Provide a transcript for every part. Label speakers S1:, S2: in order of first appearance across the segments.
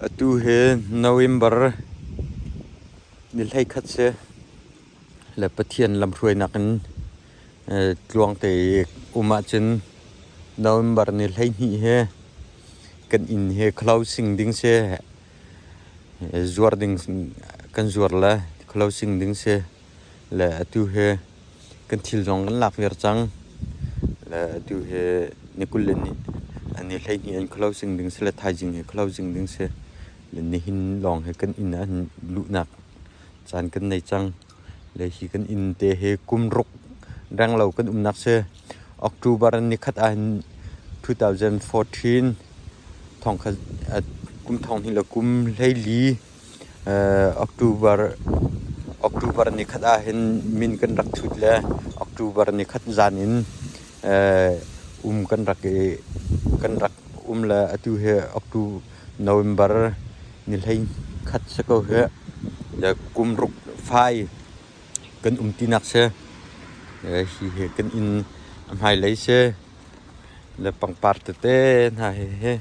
S1: Atu hi November ni hleikhat si le Pathian lamhruainak in tluang te i um ahcun November ni hleihnih hi kan inn hi khalausing ding si, zuar ding kan zuar le khalausing ding si. Le atu hi kan thil zong kan lak viar cang. Le atu hi ni kul le ni, ni hleihnih an kholo sing ding si le thaizing hi kholo sing ding si. Le nihin lawng hi kan inn an luhnak caan kan nei cang. Le hi kan inn te hi kum ruk renglo kan umnak si. October ni khat ah hin 2014 thong khat, kum thong hnih le kum hleili October nikhat ahhin min kan rak thut le October nikhat zan in um kan rak i kan rak um le atu hi November ni hleikhat si ko hih. Kum ruk fai kan um tinak si. Hi hi kan inn a hmailei si. Le pangpar tete hna hi hi.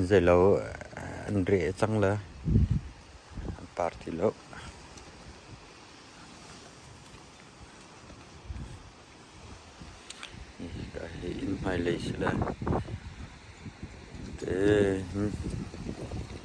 S1: Zei lo an reh cang le an taar ti lo. Hika hi inn hmailei si le. Te.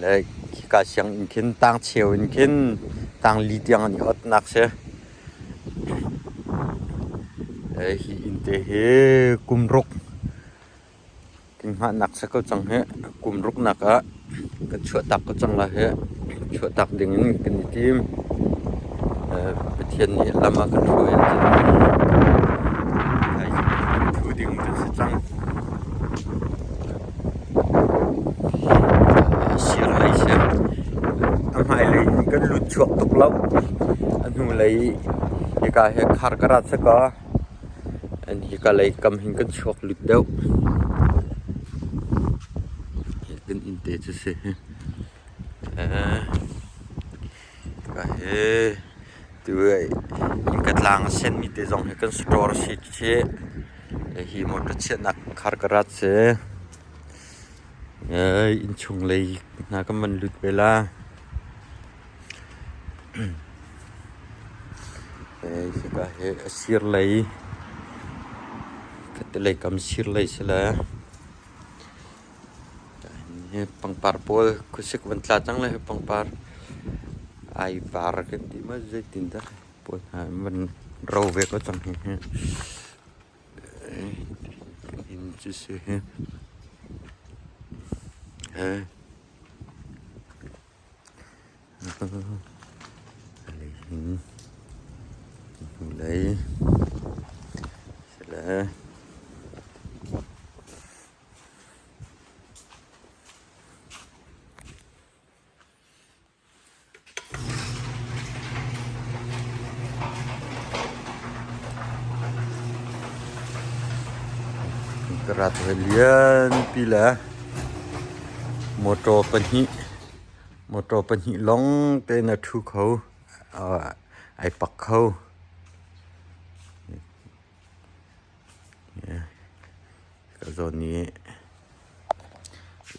S1: le khika sianginn khin tang cheu in khin tang li tiang an i otnak si hi inn te hi kum ruk kinghahnak si ko cang hi kum ruknak ah kan chuahtak ko cang la hi chuahtak ding in kan i tim Pathian nih lam a kan hruai ahcun hi thu ding kan si cang A si lai siang. A hmailei in kan lut chuak tuk lo. A hnulei hika hi khar ka rat sakaw, an hika lei kam hin kan chuak lut deuh. Hi kan inn te cu si. Innka tlang a senmi te zong hi kan store a si chih. Hi motor chiahnak car garage si. Innchung lei hna kan van lut ve la. A sir lei, khatte lei kam sir lei si le. Hi pangpar pawl khuasik van tla cang lai hi pangpar ai var kan ti ma zeitin dah pawl hna van ro ve ko cang hi hi inn cu si hi hei ali hin hnulei sele. Ka rat hawi lianpi le motor pahnih, motor pahnih lawng tein a ṭhu kho, ai pak kho. Ka zawn i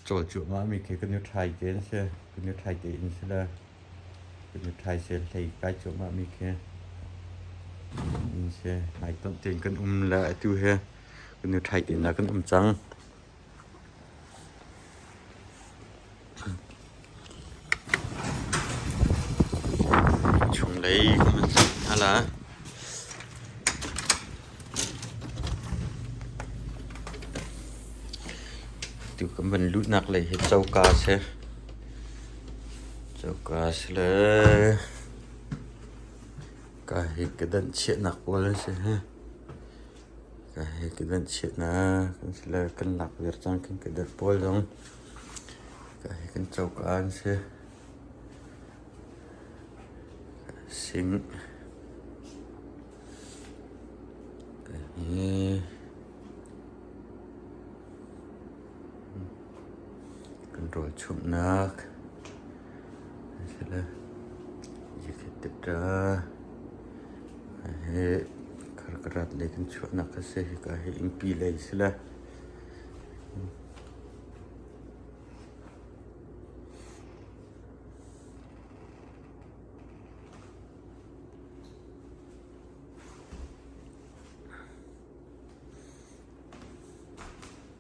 S1: cawl cuahmahmi khi kan i ṭhai te an si. Kan i ṭhai tein si le kan i ṭhai si hlei kai cuahmahmi khi in si. Hmaitonh tein kan um le atu hi kan i ṭhai tein ah kan um cang. Chunglei khua an cam hna lai. Atu kan van luhnak lei hi coka a si. Coka a si le kaa hi ka danh chiahnak pual an si. Ka hei ka danh chiat na kan si le kan lak viar cang kan ka dat pawl zong ka hei kan coka an si. Sing hi kan rawlchumhnak. Zakhat tikah karkarat lei kan chuahnak a si. Hika hi innpi lei a si le.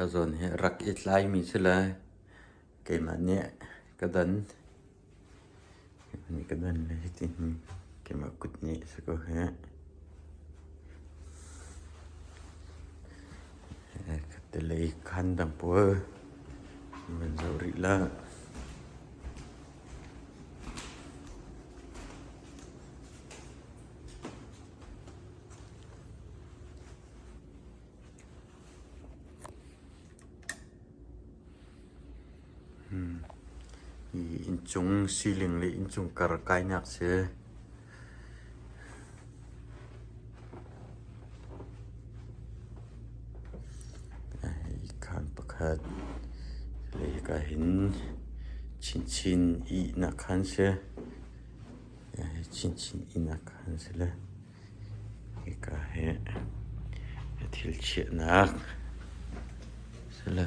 S1: Ka zawn hi rak i tlaimi si lai. Keimah nih ka don. Mi ka don le hitin keimah kut nih si ko heh. Katelei khan dang pawl van zoh rih la. Inncung siling le inncung kar kainak a si. Ikhan pakhat le hika hin chinchin ihnak khan a si. Chinchin ihnak khan a si le hika hi thil chiahnak a si le.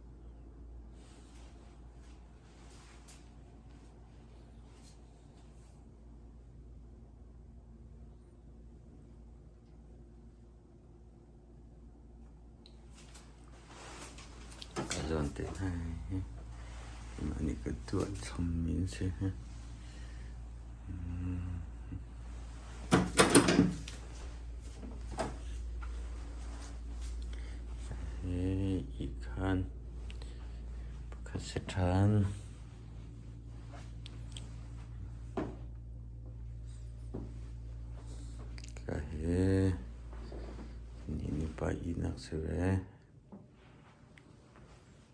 S1: Ka zawn te hna hi an i ka tuah chom mi an si hna. Hi khan pakhat si ṭhan. Ka hi ni ni pa ihnak si ve.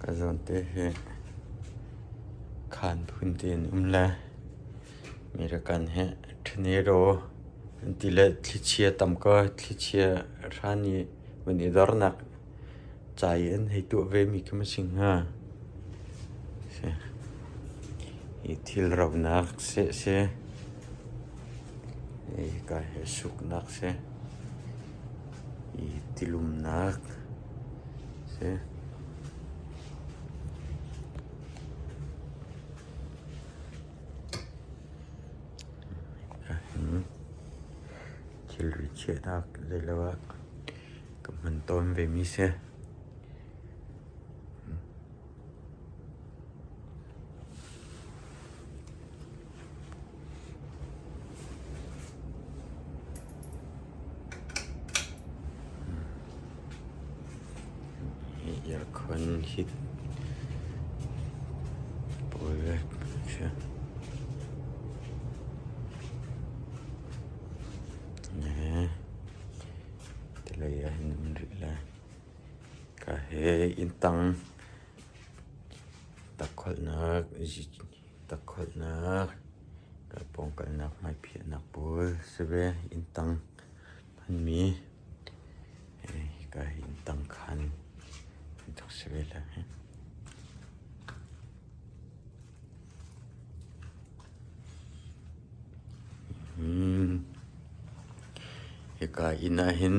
S1: Ka zawnte hi khaan phun te in um le American hi Trenero an ti le thlichia tam kaw thlichia hran i van i dornak ca i an hei tuah ve mi khi ma si hnga. Hi thil raunak seh si, hi ka hi suknak si. i tilumnak a si. Thilri chiahnak zeilo ah ka hman tawn vemi si. Earcon hit pawl le khi ne ti lei ah hin an rit lai. Ka he inn tang tak kholhnak, ka pawngkalnak hmaiphihnak pawl si ve. Inn tang hmanmi ka inn tang khan an rak si ve leng hih. Hika inn ah hin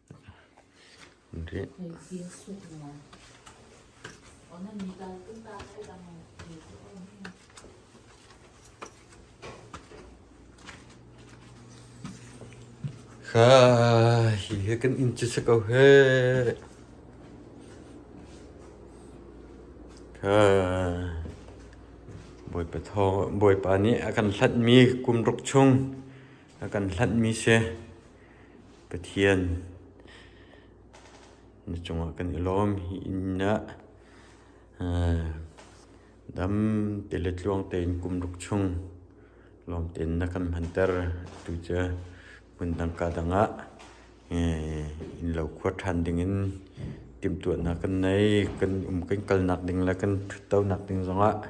S1: Hihi kan inn cu si ko heh. Bawipa thawng, Bawipa nih a kan hlatmi kum ruk chung A kan hlanhmi si Pathian na cungah kan i lawm. Hi inn ah dam te le tluang tein kum ruk chung lawm tein na kan hmanter. Atu cu hmun dangka dangah innlo khua ṭhan dingin timhtuahnak kan nei. Kan um kan kalnak ding le kan ṭhutdonak ding zongah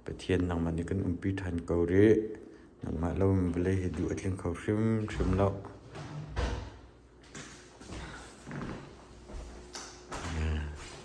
S1: Pathian nangmah nih kan umpi ṭhan ko rih. Nangmah lo in vawlei hi duh a tling kho hrimhrim lo.